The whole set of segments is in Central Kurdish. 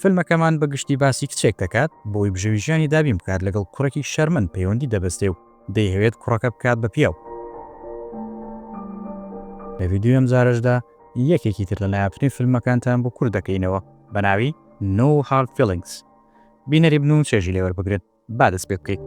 فیلمەکەمان بە گشتی باسی کچێک دەکات بۆی بژێوی ژیانی دابین بکات لەگەڵ کوڕێکی شەرمن پەیوەندی دەبەستێ و دەیهەوێت کوڕەکە بکات بە پیاو. لە ڤیدیۆی ئەم جارەشدا یەکێکی تر لە نایابترین فیلمەکانتان بۆ کورت دەکەینەوە بە ناوی No Hard Feelings. بینەری بن و چێژی لێ وەربگرن. با دەست پێ بکەین.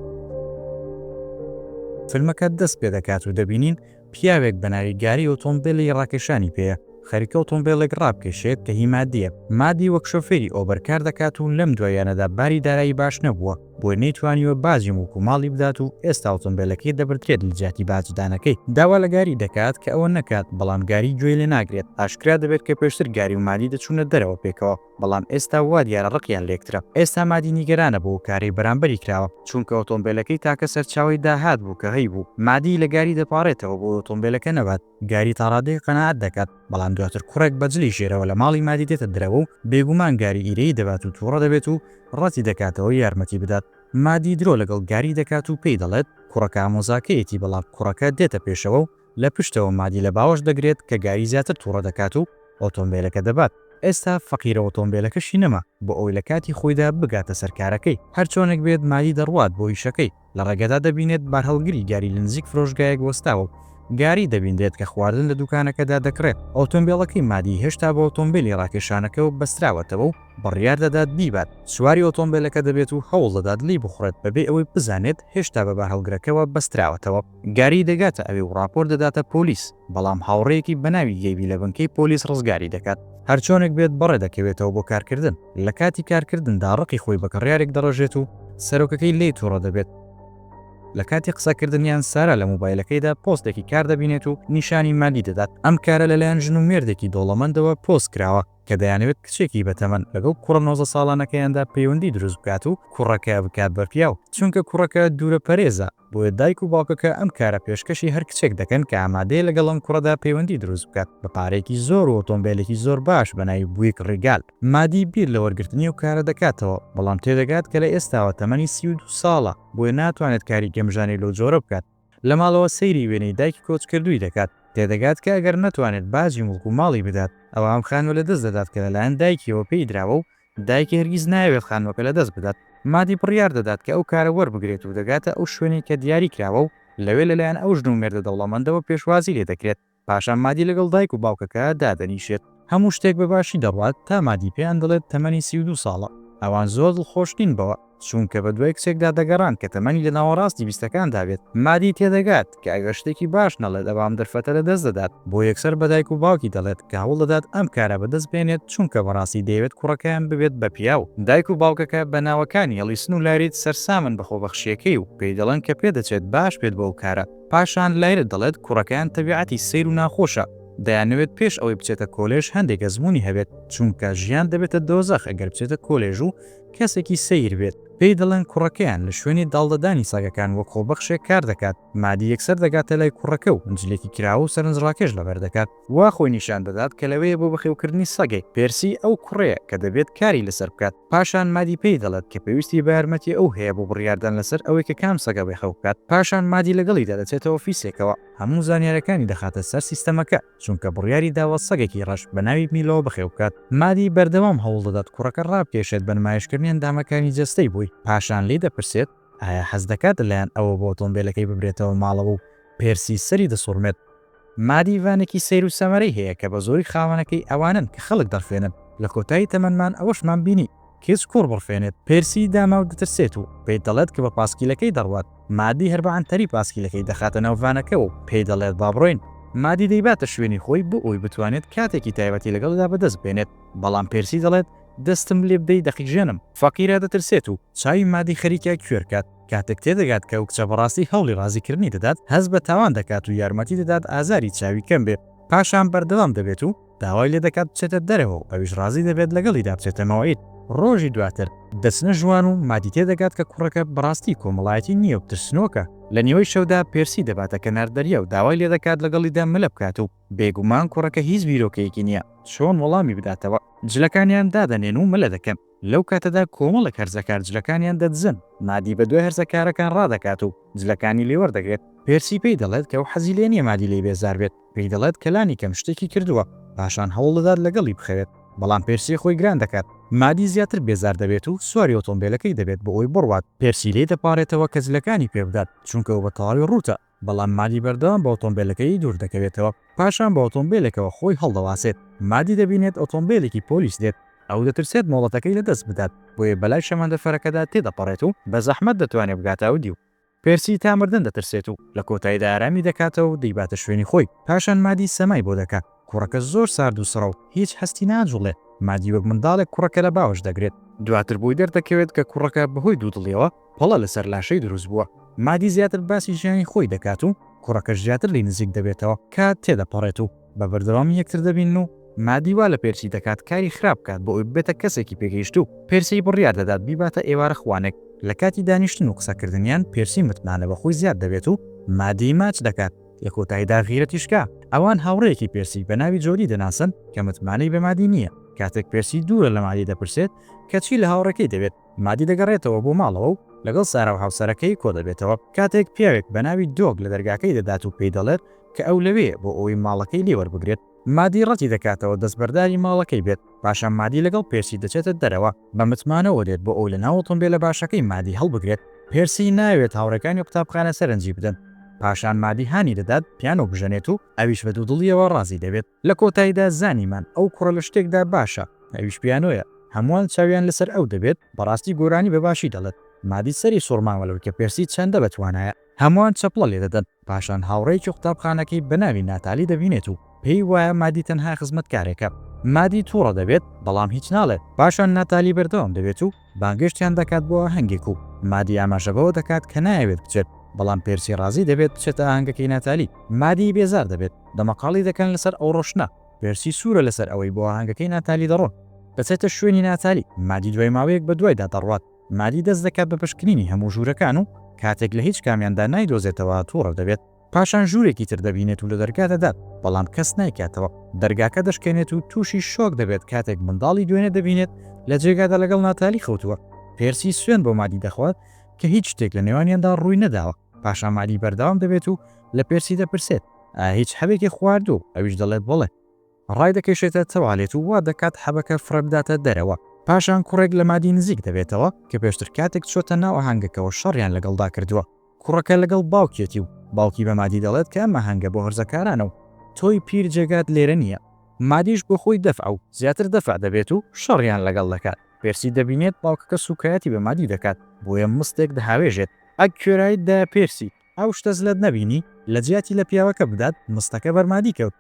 فیلمەکە دەست پێ دەکات و دەبینین پیاوێک بە ناوی گاری ئۆتۆمبێلی ڕاکێشانی پێیە، خەریکە ئۆتۆمبێلێک ڕابکێشێت کە هی مادییە. مادی وەک شۆفێری ئۆبەر کار دەکات و لەم دواییانەدا باری دارایی باش نەبووە، بۆیە نەیتوانیوە باجی موڵک و ماڵی بدات و ئێستا ئۆتۆمبێلەکەی دەبردرێت لە جیاتی باجدانەکەی. داوا لە گاری دەکات کە ئەوە نەکات، بەڵام گاری گوێی لێ ناگرێت. ئاشکرا دەبێت کە پێشتر گاری و مادی دەچوونە دەرەوە پێکەوە. بەڵام ئێستا وا دیارە ڕقیان لێکترە، ئێستا مادی نیگەرانە بۆ ئەو کارەی بەرامبەری کراوە، چونکە ئۆتۆمبێلەکەی تاکە سەرچاوەی داهات بوو کە هەیبوو، مادی لە گاری دەپاڕێتەوە بۆ ئەوەی ئۆتۆمبێلەکە نەبات، گاری تا ڕادەیەک قەناعەت دەکات، بەڵام دواتر کوڕێک بە جلی ژێرەوە لە ماڵی مادی دێتە دەرەوە و بێگومان گاری ئیرەیی دەبات و تووڕە دەبێت و ڕەتی دەکاتەوە یارمەتی بدات، مادی درۆ لەگەڵ گاری دەکات و پێی دەڵێت کوڕەکە ئامۆزاکەیەتی، بەڵام کوڕەکە دێتە پێشەوە و. لە پشتەوە مادی لە باوەش دەگرێت کە گاری زیاتر توڕە دەکات و ئۆتۆمبێلەکە دەبات، ئێستا فەقیرە ئۆتۆمبێلەکەشی نەما بۆ ئەوەی لە کاتی خۆیدا بگاتە سەر کارەکەی، هەرچۆنێک بێت مادی دەڕوات بۆ ئیشەکەی، لە ڕێگەدا دەبینێت بارهەڵگری گاری لە نزیک فرۆشگایەک وەستاوە و گاری دەبینرێت کە خواردن لە دوکانەکەدا دەکڕێت، ئۆتۆمبێڵەکەی مادی هێشتا بە ئۆتۆمبێلی ڕاکێشانەکەوە بەستراوەتەوە و بڕیار دەدات بیبات، سواری ئۆتۆمبێلەکە دەبێت و هەوڵ دەدات لێی بخوڕێت بەبێ ئەوەی بزانێت هێشتا بە بارهەڵگرەکەوە بەستراوەتەوە. گاری دەگاتە ئەوێ و ڕاپۆرت دەداتە پۆلیس، بەڵام هاوڕێیەکی بەناوی گەیبی لە بنکەی پۆلیس ڕزگاری دەکات. هەرچۆنێک بێت بەڕێ دەکەوێتەوە بۆ کارکردن، لە کاتی کارکردندا ڕقی خۆی بە کڕیارێک دەڕێژێت و سەرۆکەکەی لێی توڕە دەبێت، لە کاتی قسەکردنیان سارا لە مۆبایلەکەیدا پۆستێکی کار دەبینێت و نیشانی ماگی دەدات، ئەم کارە لەلایەن ژن و مێردێکی دەوڵەمەندەوە پۆست کراوە کە دەیانەوێت کچێکی بەتەمەن لەگەڵ کوڕە نۆزدە ساڵانەکەیاندا پەیوەندی دروست بکات و کوڕەکە بکات بە پیاو، چونکە کوڕەکە دوورە پەرێزە. بۆیە دایک و باوکەکە ئەم کارە پێشکەشی هەر کچێک دەکەن کە ئامادەیە لەگەڵ ئەم کوڕەدا پەیوەندی دروست بکات بە پارەیەکی زۆر و ئۆتۆمبێلێکی زۆر باش بە ناوی بویک ڕیگال مادی بیر لە وەرگرتنی ئەو کارە دەکاتەوە بەڵام تێدەگات کە لە ئێستاوە تەمەنی سی و دوو ساڵە بۆیە ناتوانێت کاری گەمژانەی لەو جۆرە بکات لە ماڵەوە سەیری وێنەی دایکی کۆچکردووی دەکات تێدەگات کە ئەگەر نەتوانێت باجی موڵک و ماڵی بدات ئەوا ئەم خانمە لەدەست دەدات کە لەلایەن دایکیەوە پێی دراوە و دایک هەرگیز نایەوێت خانووەکە لەدەست بدات، مادی بڕیار دەدات کە ئەو کارە وەربگرێت و دەگاتە ئەو شوێنەی کە دیاری کراوە و لەوێ لەلایەن ئەو ژن و مێردە دەوڵەمەندەوە پێشوازی لێ دەکرێت، پاشان مادی لەگەڵ دایک و باوکەکە دادەنیشێت. هەموو شتێک بە باشی دەڕوات تا مادی پێیان دەڵێت تەمەنی سی و دوو ساڵە، ئەوان زۆر دڵخۆش نین بەوە، چونکە بە دوای کچێکدا دەگەڕان کە تەمەنی لە ناوەڕاستی بیستەکاندا بێت، مادی تێدەگات کە ئەگەر شتێکی باش نەڵێت ئەوا ئەم دەرفەتە لە دەست دەدات، بۆ یەکسەر بە دایک و باوکی دەڵێت کە هەوڵ دەدات ئەم کارە بە دەست بێنێت چونکە بەڕاستی دەیەوێت کوڕەکەیان ببێت بە پیاو. دایک و باوکەکە بە ناوەکانی ئەڵیسن و لایریت سەرسامن بە خۆبەخشییەکەی و پێی دەڵێن کە پێدەچێت باش بێت بۆ ئەو کارە، پاشان لایرت دەڵێت کوڕەکەیان تەبیعەتی سەیر و ناخۆشە، دەیانەوێت پێش ئەوەی بچێتە کۆلێژ هەندێک ئەزموونی هەبێت، چونکە ژیان دەبێتە دۆزەخ ئەگەر بچێتە کۆلێژ و کەسێکی سەیر بێت، پێی دەڵێن کوڕەکەیان، لە شوێنی داڵدەدانی سەگەکان وەک خۆبەخشێک کار دەکات، مادی یەکسەر دەگاتە لای کوڕەکە و جلێکی کراوە و سەرنجڕاکێش لەبەر دەکات، وا خۆی نیشان دەدات کە لەوێیە بۆ بەخێوکردنی سەگێک، پێرسی ئەو کوڕەیە کە دەبێت کاری لەسەر بکات، پاشان مادی پێی دەڵێت کە پێویستی بە یارمەتی ئەو هەیە بۆ بڕیاردان لەسەر ئەوەی کە کام سەگە بەخێو بکات، پاشان مادی لەگەڵیدا دەچێتە ئۆفیسێکەوە، هەموو زانیارییەکانی دەخاتە سەر سیستەمەکە. چونکە بڕیاری داوە سەگێکی ڕەش بە ناوی میلۆ بەخێو بکات. مادی بەردەوام هەوڵ دەدات کوڕەکە ڕابکێشێت بە نمایشکردنی ئەندامەکانی جەستەی بۆی، پاشان لێی دەپرسێت ئایا حەز دەکات لەلایەن ئەوە بۆ ئۆتۆمبێلەکەی ببرێتەوە ماڵەوە و پێرسی سەری دەسوڕمێت. مادی ڤانێکی سەیر و سەمەرەی هەیە کە بەزۆری خاوەنەکەی ئەوانن کە خەڵک دەڕفێنن، لە کۆتایی تەمەنمان ئەوەشمان بینی، کچ کوڕ بڕفێنێت، پێرسی داما و دەترسێت و پێی دەڵێت کە بە پاسکیلەکەی دەڕوات، مادی هەر بە عەنتەری پاسکیلەکەی دەخاتە ناو ڤانەکە و پێی دەڵێت با بڕۆین، مادی دەیباتە شوێنی خۆی بۆ ئەوەی بتوانێت کاتێکی تایبەتی لەگەڵیدا بەدەست بێنێت، بەڵام پێرسی دەڵێت دەستم لێ بدەی دەقیژێنم. فەقیرە دەترسێت و چاوی مادی خەریکە کوێر کات، کاتێک تێدەگات کە ئەو کچە بەڕاستی هەوڵی ڕازی کردنی دەدات، هەست بە تاوان دەکات و یارمەتی دەدات ئازاری چاوی کەم بێت، پاشان بەردەوام دەبێت و. داوای لێ دەکات بچێتە دەرەوە و ئەویش ڕازی دەبێت لەگەڵیدا بچێتە مەوعید. ڕۆژی دواتر دەچنە ژوان و مادی تێ دەگات کە کوڕەکە بەڕاستی کۆمەڵایەتی نییە و ترسنۆکە، لە نیوەی شەودا پێرسی دەباتە کەنار دەریا و داوای لێ دەکات لەگەڵیدا مەلە بکات و بێگومان کوڕەکە هیچ بیرۆکەیەکی نییە چۆن وەڵامی بداتەوە. جلەکانیان دادەنێن و مەلە دەکەن، لەو کاتەدا کۆمەڵێک هەرزەکار جلەکانیان دەدزن، مادی بەدوای هەرزەکارەکان ڕادەکات و جلەکانی لێ وەردەگرێت، پێرسی پێی دەڵێت کە ئەو حەزی لێ نییە مادی لێی بێزار بێت، پێی دەڵێت کە لانیکەم شتێکی کردووە، پاشان هەوڵدەدات لەگەڵی بخەوێت، بەڵام پێرسی خۆی گران دەکات، مادی زیاتر بێزار دەبێت و سواری ئۆتۆمبێلەکەی دەبێت بۆ ئەوەی بڕوات، پێرسی لێی دەپاڕێتەوە کە جلەکانی پێ بدات، چونکە ئەو بە تەواوی ڕووتە، بەڵام مادی بەردەوام بە ئۆتۆمبێلەکەی دوور دەکەوێتەوە، پاشان بە ئۆتۆمبێلێکەوە خۆی هەڵدەواسێت، مادی دەبینێت ئۆتۆمبێلێکی پۆلیس دێت، ئەو دەترسێت مۆڵەتەکەی لەدەست بدات، بۆیە بەلای شەمەندەفەرەکەدا تێدەپەڕێت و بە زەحمەت دەتوانێت بگاتە ئەودیو. پێرسی تا مردن دەترسێت و لە کۆتایدا ئارامی دەکاتەوە و دەیباتە شوێنی خۆی، پاشان مادی سەمای بۆ دەکات، کوڕەکە زۆر سارد و سڕە و هیچ هەستی ناجوڵێ، مادی وەک منداڵێک کوڕەکە لە باوەش دەگرێت، دواتر بۆی دەردەکەوێت کە کوڕەکە بەهۆی دوودڵیەوە پەڵە لەسەر لاشەی دروست بووە، مادی زیاتر باسی ژیانی خۆی دەکات و کوڕەکەش زیاتر لێی نزیک دەبێتەوە، کات تێدەپەڕێت و. بە بەردەوامی یەکتر دەبینن و مادی وا لە پێرسی دەکات کاری خراپ بکات بۆ ئەوی ببێتە کەسێکی پێگەیشتوو، پێرسی بڕیار دەدات بیباتە ئێوارە خوانێک، لە کاتی دانیشتن و قسەکردنیان پێرسی متمانە بە خۆی زیاد دەبێت و مادیی ماچ دەکات، لە کۆتاییدا غیرەتی شکا، ئەوان هاوڕێیەکی پێرسی بە ناوی جۆدی دەناسن کە متمانەی بە مادی نییە، کاتێک پێرسی دوورە لە مادی دەپرسێت کە چی لە هاوڕێکەی دەوێت، مادی دەگەڕێتەوە بۆ ماڵەوە و لەگەڵ سارا و هاوسەرەکەی کۆدەبێتەوە، کاتێک پیاوێک بە ناوی دۆگ لە دەرگاکەی دەدات و پێی دەڵێت کە ئەو لەوێیە بۆ ئەوەی ماڵەکەی لێ وەربگرێت، مادی ڕەتی دەکاتەوە دەستبەرداری ماڵەکەی بێت، پاشان مادی لەگەڵ پێرسی دەچێتە دەرەوە، بە متمانەوە دێت بۆ ئەوەی لە ناو ئۆتۆمبێلە باشەکەی مادی هەڵبگرێت، پێرسی نایەوێت هاوڕێکانی قوتابخانە سەرنجی بدەن، پاشان مادی هانی دەدات پیانۆ بژەنێت و ئەویش بە دوودڵییەوە ڕازی دەبێت. لە کۆتایدا زانیمان ئەو کوڕە لە شتێکدا باشە ئەویش پیانۆیە، هەمووان چاویان لەسەر ئەو دەبێت، بەڕاستی گۆرانی بە باشی دەڵێت، مادی سەری سوڕماوە لەوەی کە پێرسی چەندە بە توانایە، هەمووان چەپڵە لێ دەدەن، پاشان هاوڕێیەکی قوتابخانەکەی بە ناوی ناتالی دەبینێت و پێی وایە مادی تەنها خزمەتکارێکە، مادی توڕە دەبێت بەڵام هیچ ناڵێت، پاشان ناتالی بەردەوام دەبێت و. بانگێشتیان دەکات بۆ ئاهەنگێک و مادی ئاماژە بەوە دەکات کە نایەوێت بچێت، بەڵام پێرسی ڕازی دەبێت بچێتە ئاهەنگەکەی ناتالی. مادی بێزار دەبێت، دەمەقاڵی دەکەن لەسەر ئەو ڕۆشتنە. پێرسی سوورە لەسەر ئەوەی بۆ ئاهەنگەکەی ناتالی دەڕۆن. دەچێتە شوێنی ناتالی. مادی دوای ماوەیەک بەدوایدا دەڕوات. مادی دەست دەکات بە پشکنینی هەموو ژوورەکان و کاتێک لە هیچ کامیاندا نایدۆزێتەوە تووڕە دەبێت. پاشان ژوورێکی تر دەبینێت و لە دەرگا دەدات، بەڵام کەس نایکاتەوە، دەرگاکە دەشکێنێت و تووشی شۆک دەبێت کاتێک منداڵی دوێنێ دەبینێت لە جێگادا لەگەڵ ناتالی خەوتووە، پێرسی سوێند بۆ مادی دەخوات کە هیچ شتێک لە نێوانیاندا ڕووی نەداوە، پاشان مادی بەردەوام دەبێت و لە پێرسی دەپرسێت، ئایا هیچ حەبێکی خواردووە و ئەویش دەڵێت بەڵێ. ڕایدەکێشێتە تەوالێت و وا دەکات حەبەکە فڕێ بداتە دەرەوە. پاشان کوڕێک لە مادی نزیک دەبێتەوە کە پێشتر کاتێک چۆتە ناو ئاهەنگەکەوە شەڕیان لەگەڵدا کردووە. کوڕەکە لەگەڵ باوکیەتی و باوکی بە مادی دەڵێت کە ئەم ئاهەنگە بۆ هەرزەکارانە و تۆی پیر جێگات لێرە نییە. مادیش بۆ خۆی دەفع و زیاتر دەفع دەبێت و شەڕیان لەگەڵ دەکات. پێرسی دەبینێت باوکەکە سووکایەتی بە مادی دەکات، بۆیە مستێک دەهاوێژێت. ئەک کوێرایت دایە پێرسی، ئەو شتە زلەت نەبینی؟ لەجیاتی لە پیاوەکە بدات، مستەکە بەر مادی کەوت.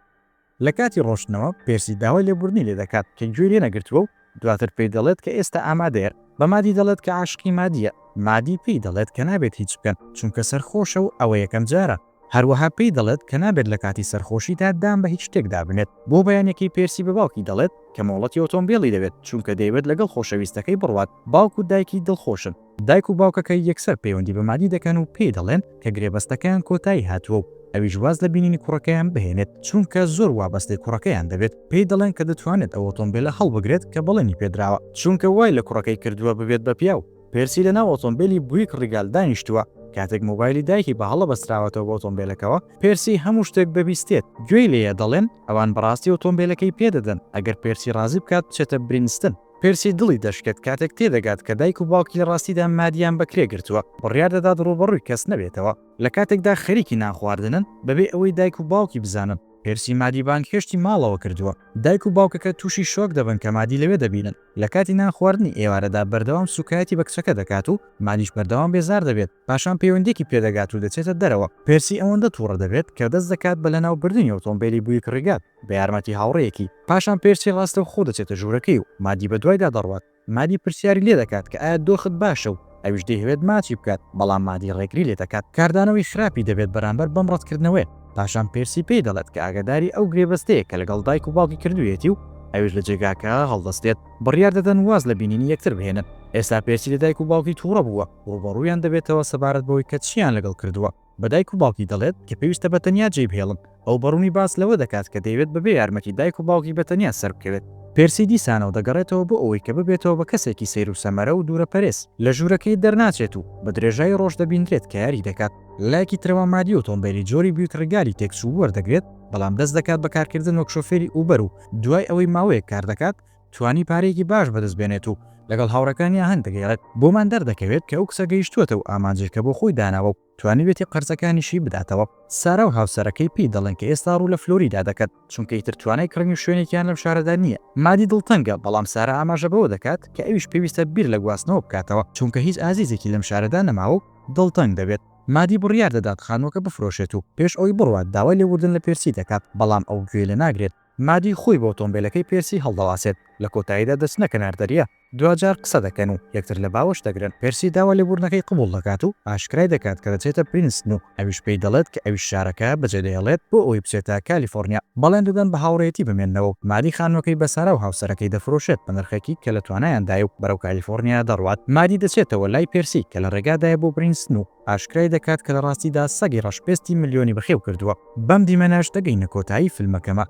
لە کاتی ڕۆشتنەوە پێرسی داوای لێبوردنی لێ دەکات کە گوێی لێ نەگرتووە و دواتر پێی دەڵێت کە ئێستا ئامادەیە، بە مادی دەڵێت کە عاشقی مادییە، مادی پێی دەڵێت کە نابێت هیچ بکەن چونکە سەرخۆشە و ئەوە یەکەم جارە، هەروەها پێی دەڵێت کە نابێت لە کاتی سەرخۆشیدا دان بە هیچ شتێکدا بنێت، بۆ بەیانیەکەی پێرسی بە باوکی دەڵێت کە مۆڵەتی ئۆتۆمبێلی دەوێت چونکە دەیەوێت لەگەڵ خۆشەویستەکەی بڕوات، باوک و دایکی دڵخۆشن. دایک و باوکەکەی یەکسەر پەیوەندی بە مادی دەکەن و پێی دەڵێن کە گرێبەستەکەیان کۆتایی هاتووە و ئەویش واز لە بینینی کوڕەکەیان بهێنێت، چونکە زۆر وابەستەی کوڕەکەیان دەبێت، پێی دەڵێن کە دەتوانێت ئەو ئۆتۆمبێلە هەڵبگرێت کە بەڵێنی پێدراوە، چونکە وای لە کوڕەکەی کردووە ببێت بە پیاو. پێرسی لەناو ئۆتۆمبێلی بویک ڕیگال دانیشتووە، کاتێک مۆبایلی دایکی بە هەڵە بەستراوەتەوە بە ئۆتۆمبێلەکەوە، پێرسی هەموو شتێک دەبیستێت، گوێی لێیە دەڵێن ئەوان بەڕاستی ئۆتۆمبێلەکەی پێدەدەن ئەگەر پێرسی ڕازی بکات بچێتە برینستن. پرسی دڵی دەشکێت کاتێک تێدەگات کە دایک و باوکی لە ڕاستیدا مادیان بەکرێ گرتووە، بڕیار دەدات ڕووبەڕووی کەس نەبێتەوە، لە کاتێکدا خەریکی نان خواردنن بەبێ ئەوەی دایک و باوکی بزانن، پرسی مادی بانگهێشتی ماڵەوە کردووە، دایک و باوکەکە تووشی شۆک دەبن کە مادی لەوێ دەبینن، لە کاتی نان خواردنی ئێوارەدا بەردەوام سووکایەتی بە کچەکە دەکات و مادیش بەردەوام بێزار دەبێت، پاشان پەیوەندیەکی پێدەگات و دەچێتە دەرەوە، پرسی ئەوەندە توڕە دەبێت کە دەست دەکات بە لەناو بردنی ئۆتۆمبێلی بویک ڕیگات، بە یارمەتی هاوڕێیەکی، پاشان پێرسی ڕاستەوخۆ دەچێتە ژوورەکەی و مادی بەدوایدا دەڕوات، مادی پرسیاری لێدەکات کە ئایا دۆخت باشە و ئەویش دەیهەوێت ماچی بکات، بەڵام مادی ڕێگری لێدەکات، کاردانەوەی خراپی دەبێت بەرامبەر بەم ڕەتکردنەوەیە، پاشان پێرسی پێی دەڵێت کە ئاگاداری ئەو گرێبەستەیە کە لەگەڵ دایک و باوکی کردوویەتی و ئەویش لە جێگاکە هەڵدەستێت، بڕیار دەدەن واز لە بینینی یەکتر بهێنن، ئێستا پێرسی لە دایک و باوکی توڕە بووە، ڕووبەڕوویان دەبێتەوە سەبارەت بەوەی کە چییان لەگەڵ کردووە. بە دایک و باوکی دەڵێت کە پێویستە بە تەنیا جێی بهێڵن، ئەو بە ڕوونی باس لەوە دەکات کە دەیەوێت بەبێ یارمەتی دایک و باوکی بە تەنیا سەربکەوێت. پێرسی دیسانەوە دەگەڕێتەوە بۆ ئەوەی کە ببێتەوە بە کەسێکی سەیر و سەمەرە و دوورەپەرێز، لە ژوورەکەی دەرناچێت و بە درێژایی ڕۆژ دەبیندرێت کە یاری دەکات، لە لایەکی ترەوە مادی ئۆتۆمبێلی جۆری بیوک ڕیگالی تێکچوو وەردەگرێت، بەڵام دەست دەکات بە کارکردن وەک شۆفێری ئوبەر و دوای ئەوەی ماوەیەک کار دەکات، توانی پارەیەکی باش بەدەست بێنێت و لەگەڵ هاوڕێکانی ئاهەنگ دەگێڕێت، بۆمان دەردەکەوێت کە ئەو کچە گەیشتووەتە و ئامانجی کە بۆ خۆی داناوە و توانیوێتی قەرزەکانیشی بداتەوە، سارا و هاوسەرەکەی پێی دەڵێن کە ئێستا ڕوو لە فلۆریدا دەکەن، چونکە ئیتر توانای کڕینی شوێنێکیان لەم شارەدا نییە، مادی دڵتەنگە، بەڵام سارا ئاماژە بەوە دەکات کە ئەویش پێویستە بیر لە گواستنەوە بکاتەوە، چونکە هیچ ئازیزێکی لەم شارەدا نەماوە و دڵتەنگ دەبێت، مادی بڕیار دەدات خانووەکە بفرۆشێت و پێش ئەوەی بڕوات داوای لێبوردن لە پێرسی دەکات، بەڵام ئەو گوێی لێناگرێت. مادی خۆی بۆ ئۆتۆمبێلەکەی پێرسی هەڵدەواسێت، لە کۆتاییدا دەچنە کەنار دەریا، دواجار قسە دەکەن و یەکتر لە باوەش دەگرن، پێرسی داوا لێبووردنەکەی قبوڵ دەکات و ئاشکرای دەکات کە دەچێتە پرینستن و ئەویش پێی دەڵێت کە ئەویش شارەکە بەجێدەهێڵێت بۆ ئەوەی بچێتە کالیفۆرنیا، بەڵێن دەدەن بە هاوڕێیەتی بمێننەوە و مادی خانمەکەی بە سارا و هاوسەرەکەی دەفرۆشێت بە نرخێکی کە لە توانایاندایە و بەرەو کالیفۆرنیا دەڕوات، مادی دەچێتەوە لای پێرسی کە لە ڕێگادایە بۆ پرینستن و ئاشکرای دەکات کە لە ڕاستیدا سەگی ڕەش پێستی ملیۆنی بەخێو کردووە. بەم دیمەنەش دەگەینە کۆتایی فیلمەکەمە.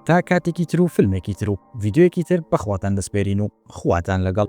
تا کاتێکی تر و فیلمێکی تر و ڤیدیۆیەکی تر بەخواتان دەسپێرین و خواتان لەگەڵ.